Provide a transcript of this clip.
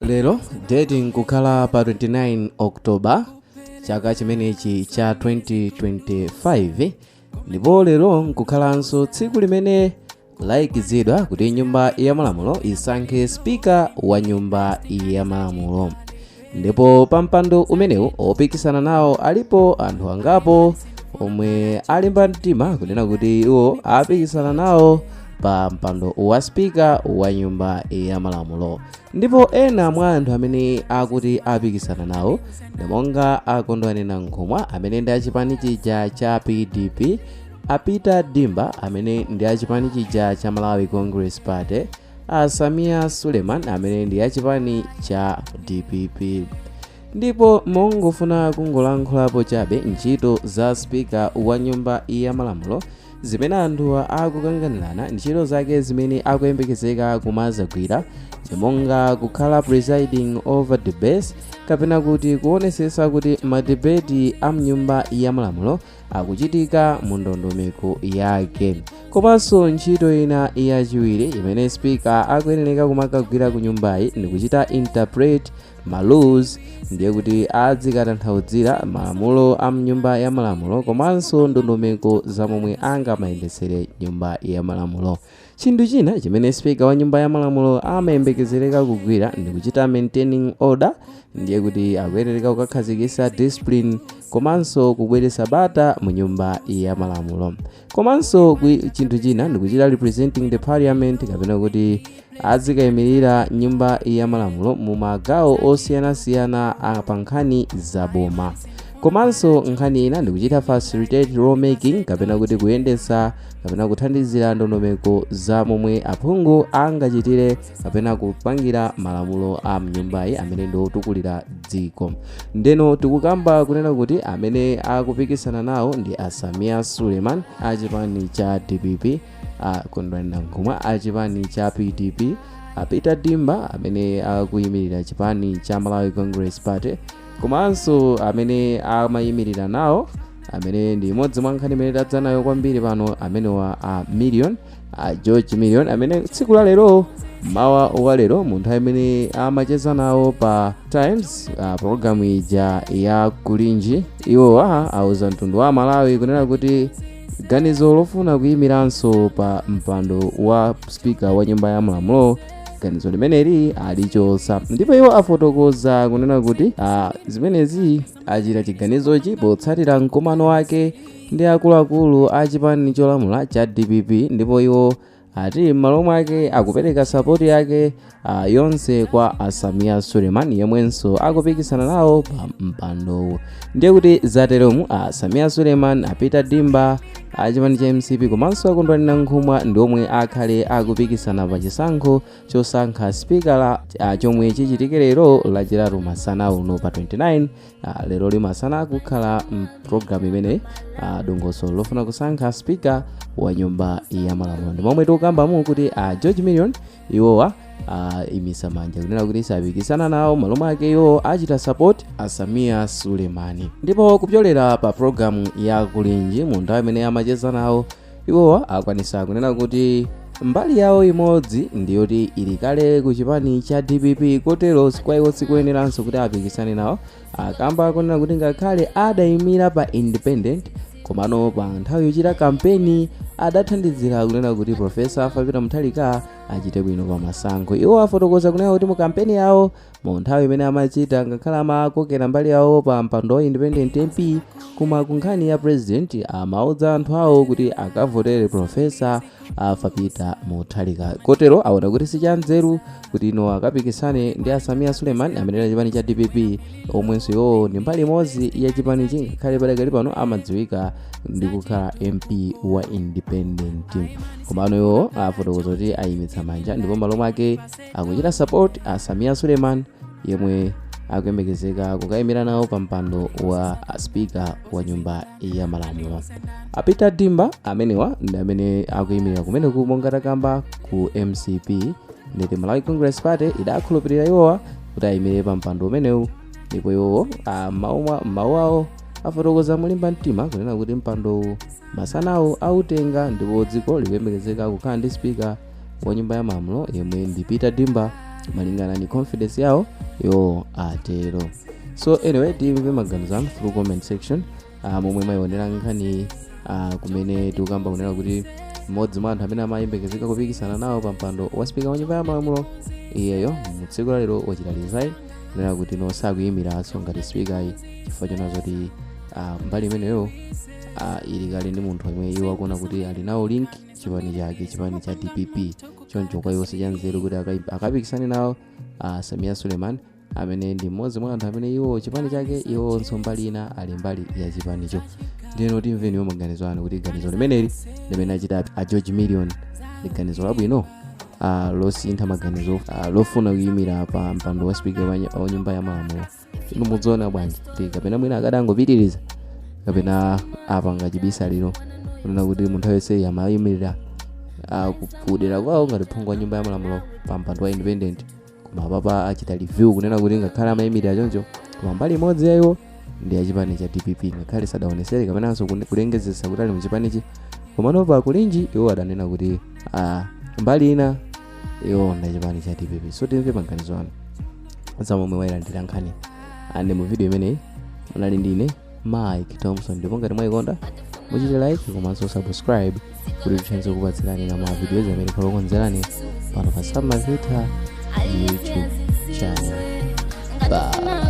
lero date nkukhala pa 29 october chaka chimenechi cha 2025 ndipo lero nkukhalanso tsiku limene laikizidwa kuti nyumba ya malamulo isankhe spika wa nyumba ya malamulo ndipo pa mpando umenewu opikisana nawo alipo anthu angapo omwe alimba mtima kunena kuti iwo apikisana nawo pa mpando wa spika wa nyumba ya malamulo ndipo ena mwa anthu amene akuti apikisana nawo ndi monga a kondwani nankhumwa amene ndi achipani chija cha pdp a peter dimba amene ndi achipani chija cha malawi congress party a sameer suleman amene ndi achipani cha dpp ndipo mongofuna kungolankhulapo chabe ntchito za spika wa nyumba ya malamulo zimene anthu akukanganirana ntchito zake zimene akuyembekezeka kumazagwira zimonga kukhala presiding over debates kapena kuti kuonesesa kuti madebeti a mnyumba ya malamulo akuchitika mu ndondomeko yake komanso ntchito ina yachiwiri imene spika akuyenereka kumakagwira ku nyumbayi ndikuchita interpret ma laws ndiye kuti adzikatanthauzira malamulo a mnyumba ya malamulo komanso ndondomeko za momwe angamayendetsere nyumba ya malamulo chinthu china chimene spika wa nyumba ya malamulo amayembekezereka kugwira ndi kuchita maintaining order ndiye kuti akuyenereka kukakhazikitsa discipline komanso kubweretsa bata mu nyumba ya malamulo komanso chinthu china ndikuchita representing the parliament kapena kuti azikayimirira nyumba ya malamulo mu magawo osiyanasiyana pa nkhani za boma komanso nkhani ina ndikuchita facilitate law making kapena kuti kuyendetsa kapena kuthandizira ndondomeko za momwe aphungu angachitire kapena kupangira malamulo a mnyumbayi amene ndi otukulira dziko ndeno tikukamba kunena kuti amene akupikisana nawo ndi a sameer suleman a chipani cha dpp a kondwani nankhumwa a chipani cha pdp a peter dimba amene akuyimirira chipani cha malawi congress party komanso amene amayimirira nawo amene ndi imodzi mwa nkhani imene tadza nayo kwambiri pano amenewa a million a george million amene tsiku la lero mmawa wa lero mu nthawi imene amacheza nawo pa times uh, programu ija ya kulinji iwowa auza mtundu wa amalawi kunena kuti ganizo lofuna kuyimiranso pa mpando wa spika wa nyumba ya malamulo ganizo limeneli alichotsa ndipo iwo afotokoza kunena kuti uh, zimenezi achita chiganizochi potsatira mkumano wake ndi akuluakulu a chipani cholamula cha dpp ndipo iwo ati m'malo mwake akupereka sapoti yake ah, yonse kwa asamiya suleiman yemwenso akupikisana nawo pa mpandowu ndiye kuti zateromu asamiya suleiman a Peter Dimba a chipani cha mcp komanso a Kondwani Nankhumwa ndi omwe akhale akupikisana pa chisankho chosankha spikala ah, chomwe chichitike lero lachitatu masana uno pa 29 Ah, lero limasana kukhala pulogalamu imeneyi dongosolo lofuna kusankha spika wa nyumba ya malamulo ndi momwe tikukambamo kuti a george million iwowa ayimitsa manja kunena kuti sapikisana nawo m'malo mwake iwo achita support a samia suleiman ndipo kupyolera pa pulogalamu ya kulinji mu nthawi imene amacheza nawo iwowa akwanitsa kunena kuti mbali yawo imodzi ndiyoti ili kale ku chipani cha dpp kotero kwa iwo sikuyeneranso kuti apikisane nawo akamba kunena kuti ngakhale adayimira pa independent komano pa nthawi yochita kampeni adathandizira kunena kuti profesa Arthur Peter Mutharika achite bwino pa masankho iwo afotokoza kunena kuti mu kampeni yawo Mu nthawi imene amachita ngakhale amakokera mbali yawo pa mpando wa independent MP koma ku nkhani ya president amaudza anthu awo kuti akavotere Professor Arthur Peter Mutharika. Kotero aona kuti si chanzeru kuti iwo akapikisane ndi a Samia Suleiman amene ali a chipani cha DPP omwenso iwowo ndi mbali imodzi ya chipanichi ngakhale padakali pano amadziwika ndi kukhala MP wa independent. Komano iwo afotokoza kuti ayimitsa manja ndipo m'malo mwake akuchita support a samia suleiman yemwe akuyembekezeka kukayimira nawo pa mpando wa spika wa nyumba ya malamulo a peter dimba amenewa ndi amene akuyimirira kumeneku monga takamba ku mcp nditi malawi congress party idakhulupirira iwowa kuti ayimire pa mpando umenewu ndipo iwowo ah, m'mawu mwa- m'mawu awo afotokoza molimba mtima kunena kuti mpandowu masanawa autenga ndipo dziko likuyembekezeka kukhala ndi spika wa nyumba ya malamulo yemwe ndi peter dimba malingana ndi confidence yawo iwo atero so anyway timve maganizo anu through comment section uh, momwe mwayionera nkhani uh, kumene tikukamba kunena kuti mmodzi mwa anthu amene amayembekezeka kupikisana nawo pa mpando wa spika wa nyumba ya malamulo iyeyo mu tsiku la lero wachita resign kunena kuti no sakuyimiranso ngati spika ayi chifukwa choona zoti uh, mbali imeneyo uh, ili kale ndi munthu amene iwo akuona kuti ali nawo link chipani chake chipani cha dpp choncho kwa iwo sichanzeru kuti akai- akapikisane nawo uh, samia suleiman amene ndi mmodzi mwa anthu amene iwo chipani chake iwonso mbali ina ali mbali ya chipanicho ndiyeno timve nawo maganizo anu kuti ganizo limeneli limene achita a george million ndi ganizo labwino uh, losintha maganizo uh, lofuna kuyimira pa mpando wa spika wa ny- wa nyumba ya malamulo inu mudziona bwanji kuti kapena mwina akadangopitiriza kapena apanga chibisalira kunena kuti munthu aliyense amayimirira kudera kwawo ngati phungu wa nyumba ya malamulo pa mpando wa independent koma apapa achita review kunena kuti ngakhale amayimirira choncho koma mbali imodzi ya iwo ndi achipani cha dpp ngakhale sadaonesere kapenanso kune- kulengezesa kuti ali mu chipanichi komano pa kulinji iwo adanena kuti ah, mbali ina iwo ndi achipani cha dpp so timve maganizo anu za momwe mwayilandirira nkhani ande mu video imeneyi munali ndine mike thompson ndipo ngati mwayikonda muchite like komanso subscribe kuti tithe kukupatsirani na ma videos amene tikukonzerani pano pa samazitha youtube channel bye